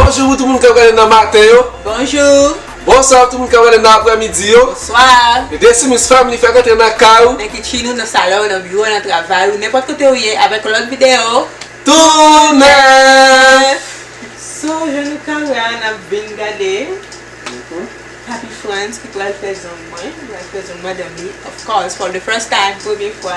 Bonjou pou tout moun kap gade nan maten yo. Bonjou. Bonswa pou tout moun kap gade nan aprè midi yo. Bonswa. The Decimus Family fèk antre nan kay ou. Nan kitchen ou, nan salon ou, nan biwo ou, nan travay ou, nenpòt kote ou ye avèk yon lòt videyo tou nèf! So jan nou ka wè a nap vin gade Papi Frantz ki pral fè zong mwen, li pral fè zong madanm li of course for the first time, premye fwa.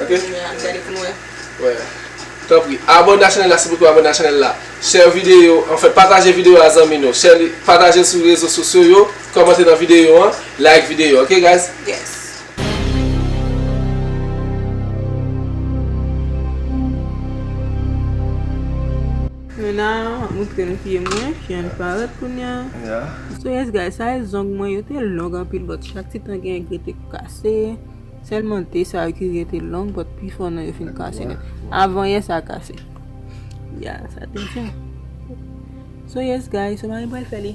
Ok. Wè. Tanpri. Abone a chanel la sipoutwa abone a chanel la. Share video an fè pataje video a zanmi nou. Share li pataje l sou rezo sosyo yo. Kòmante nan video an. Like video ok guys. Yes. Mena wap moutre nou pye mwen. Pye an parèt kounya. Yeah. So yes guys sa e zong mwen yo te long anpil but chak ti tan gen gri te kase. Sèlman te sa yo ki rete long but pi fò nan yo fin kase nèt. Avan yè sa kase. Ya sa te jan. So yes guys, so mari pral fè li.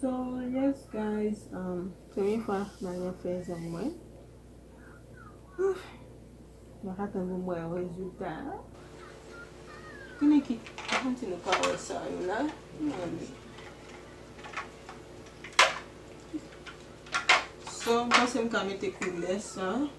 So yes guys um premye fwa nan yon fèzè mwen Mwen pa tann pou m wè rezilta a Kounye ki Mwen di nou pa wè sa yo la Gade So m panse m ka mete koulè sa.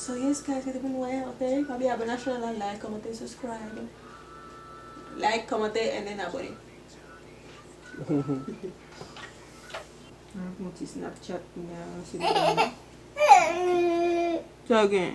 So yes guys mwen te konn wè yon pè pa bliye abone ak chanel la like kòmante subscribe like kòmante and then abone Mwen ap yon ti snapchat kounya se li menm nan. Sa gen?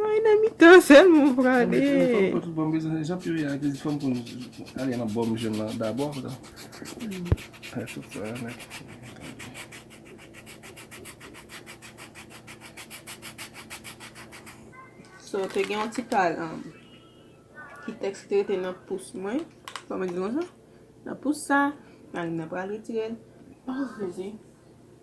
Mwen nan mitan sèl mwen prale. So te gen yon ti pal an. Ki teks ki te rete nan pous mwen. Fwa mwen di yon jan. Nan pous sa. Nan mwen pral retirel. Oh jezi.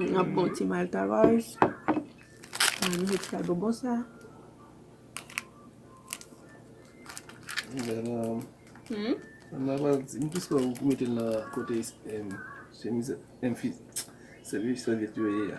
N ap pran ti malta ròz. N ap met sa bonbon sa. M ap pran ti. M plis kwè ou mete l nan kote chemiz. Sèvyèt yo ye a.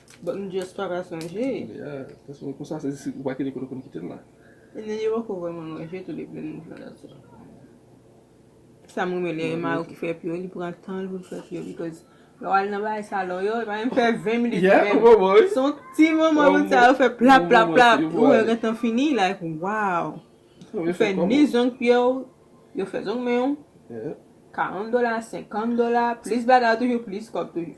But m just pa ka sonje. Yeah, paske m konsa se si ou pa kite kote ou konn kite l la. And then yo poko vwe mwen manje tou depi m jwenn l tou. Sa m renmen lè Emma ou ki fè pi yo, li pran tan l pou l fè pi yo because lè w al nan bagay salon yo, e pa menm fè 20 minutes menm. Yeah, bon bon wi. Se yon ti moman pou sa yo fè plap plap plap, ou wè yo gentan fini like wow. Ou fè ni zong pye w, yo fè zong men w. Yeah. 40 dola, 50 dola, plis bagay toujou plis kòb toujou.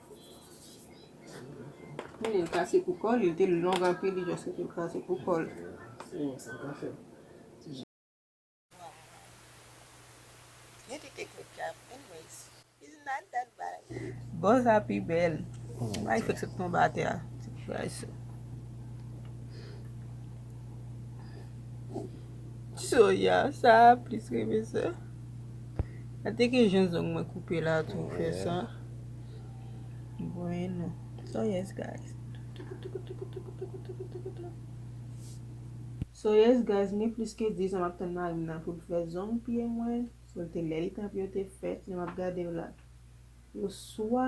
Menil kase pou kòl li te long anpil li just fèk kase pou kòl. Bòz la pi bèl. Why li fèk sot tonbe atè a. Soya sa plis renmen sa. Sa te gen jan zong mwen koupe la tou fè sa. Bueno. So yes guys. So yes guys mwen plis ke 10 an map tann marim nan pou l fè zong pye mwen. Sou l te lè li te anvi yo te fèt. Mwen map gade yo la. Oswa.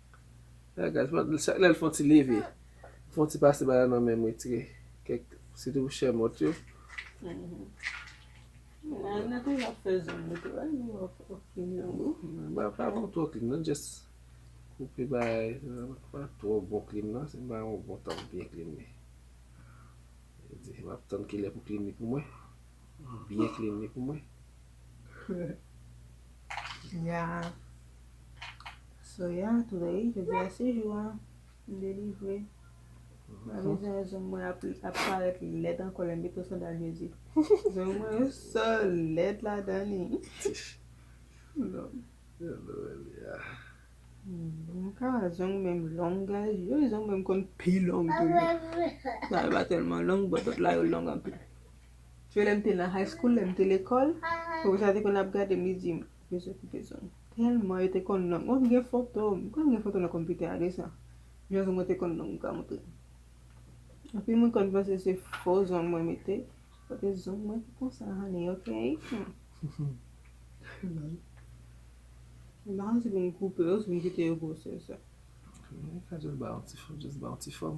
Chak lè l fon ti leve, fon ti pase bagay nan men m retire kèk sitou pou chè mòt yo. M pa fè yon twò klin nan, jès koupe bagay nan, pa twò bon klin nan, se m pa yon bon tank byen klin li. M ap tann kilè pou klin li pou mwen, byen klin li pou mwen. Ya Soya today jodi a se jou an m delivre Mwen bezwen yon zong mwen ap parèt lèd ankò lè m mete yon sandal jezi Zong mwen yo so lèd ladan li M ka wè zong menm long guys gen yon zong menm konn pi long tou Sa yo pa tèlman long but lòt la yo long anpil Jwe lèm te nan high school lèm te lekòl profesa te konn ap gadem li dim bezwen pou bezwen tèlman yo te konn nonm mwen gen fotom m konn gen foto nan konpitè a de sa jan zong mwen te konn long pral montre anpil moun konn panse se fo zong mwen mete paske zong mwen te konsa honey ok mpa konn si pou m koupe yo si pou m kite yo gwosè sa. Mwen ka jis ba yon ti fòm.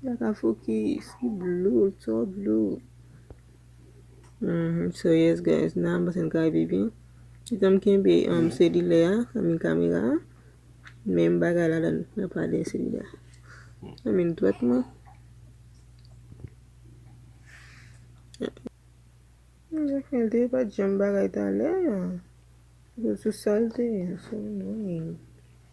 Mwen pa ka fokis, li blue, li two blue. Humm so yes guys nan pase n kay bibi kitanm kenbe selilè a I mean kamera a menm bagay la dan nan pa de selilè I mean dwèt mwen Jacmel te pat janm bagay talè a sou sal te ye so annoying.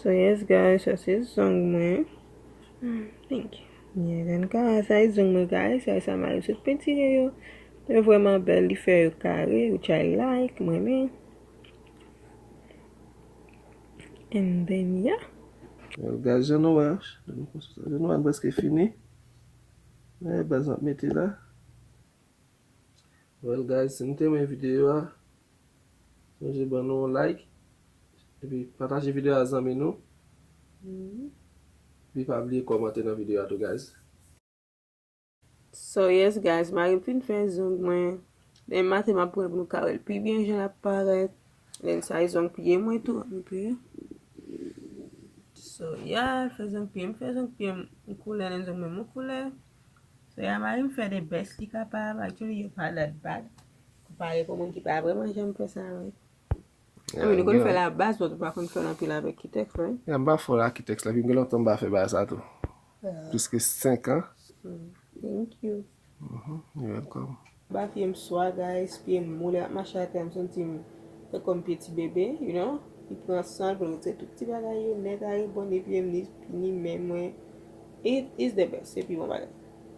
So yes guys, sa se zong mwen. Hmm, thank you. Mwen gen ka, sa e zong mwen guys, sa e sa mwen sot pentire yo. Yo vweman bel, li fe yo kare, yo chay like, mwen men. And then ya. Well guys, jan nou wè, jan nou wè mwen preske fini. Mwen e bazan meti la. Well guys si nou te renmen videyo a sonje ban nou yon like epi pataje videyo a zanmi nou epi pa bliye kòmante nan videyo a tou guys. So yes guys marim fin fè zong mwen demen maten map pranl pou nou ka wèl pi byen jan lap parèt lèn sa e zong pye mwen tou anpè so yeah fè zong pyem fè zong pyem yon koulè lèn zong mwen yon koulè. So yeah marim fè the best li kapab actually yo pa that bad konpare pou moun ki pa vreman janm fè sa vre I mean ou konn fèl a baz but ou pa konn fèl anpil avèk kitèks right yeah m pa fòl a kitèks la epi m gen lontan m pa fè bagay sa tou plis ke 5 ans thank you you welcome. Ba pyem swa guys pyem moule ap mache atè m santim tankom pye ti bebe you know li pran sanl poul retire tout ti bagay yo nèt are bon ni pyem ni ni men mwen it is the best se pi bon bagay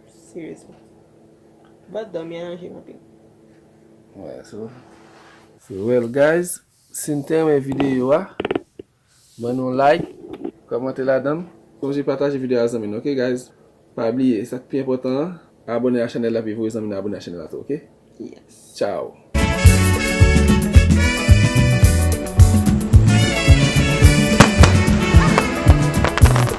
seriously but domi an ranjem anpil. Alright so so well guys sim te renmen video a. Ban nou like, kòmante ladann. Sonje pataje video a zanmi nou ok guys pa bliye sak pi enpòtan an abòne a chanèl la epi voye zanmi nou abòne a chanèl la tou ok ciao.